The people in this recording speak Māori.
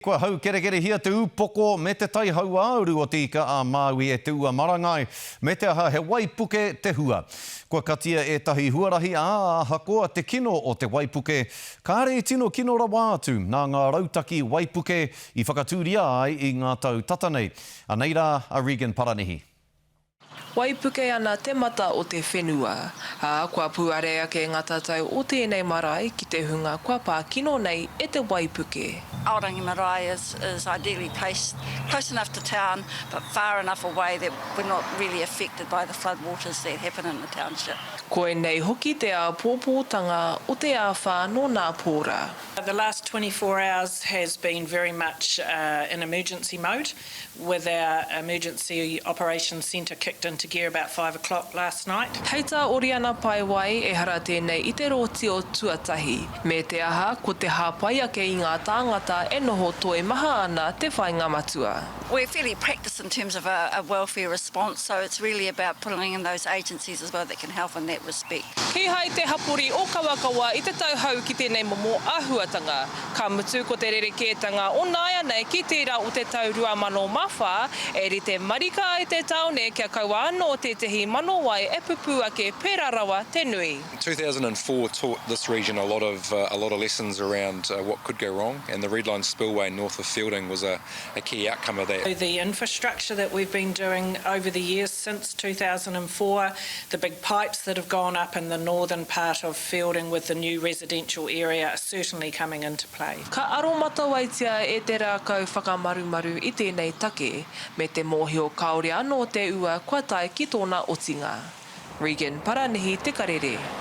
Kua haukerekerehia te upoko me te tai hauāuru o Te Ika-a-Māui e Te Ua Marangai, me te aha he waipuke te hua. Kua katia ētahi huarahi, ā, ahakoa te kino o te waipuke, kāre i tino kino rawa atu nā ngā rautaki waipuke i whakatūria ai i ngā tau tata nei. Anei rā a Regan Paranihi. Waipuke ana te mata o te whenua, ā, kua puare ake ngā tatau o tēnei marae ki te hunga kua pā kino nei e te waipuke. Aorangi marae is is ideally placed close enough to town but far enough away that we're not really affected by the flood waters that happen in the township. Koinei hoki te āpōpōtanga o te āwhā nō nā pōra. The last twenty four hours has been very much in emergency mode with our emergency operations centre kicked into gear about five o'clock last night. Hei tā Oriana Paewai, ehara tēnei i te rōti o tuatahi. Me te aha, ko te hāpai ake i ngā tāngata e noho toimaha ana te whainga matua. We're fairly practised in terms of a welfare response, so it's really about pulling in those agencies as well that can help in that respect. Kīhai te hapori ōkawakawa i te tauhou ki tēnei momo āhuatanga. Ka mutu ko te rerekētanga o nāianei ki tērā o te tau 2004, e rite marika ai te tāone kia kaua anō tētehi mano wai e pupū ake pērā rawa te nui. 2004 taught this region a lot of a lot of lessons around what could go wrong and the red line spillway north of Feilding was a a key outcome of that. The infrastructure that we've been doing over the years since 2004, the big pipes that have gone up in the northern part of fielding with the new residential area are certainly coming into play. Ka aromatawaitia e te rākau whakamarumaru i tēnei take, me te mōhio kāore anō te ua kua tae ki tōna otinga. Regan Paranihi Te Karere.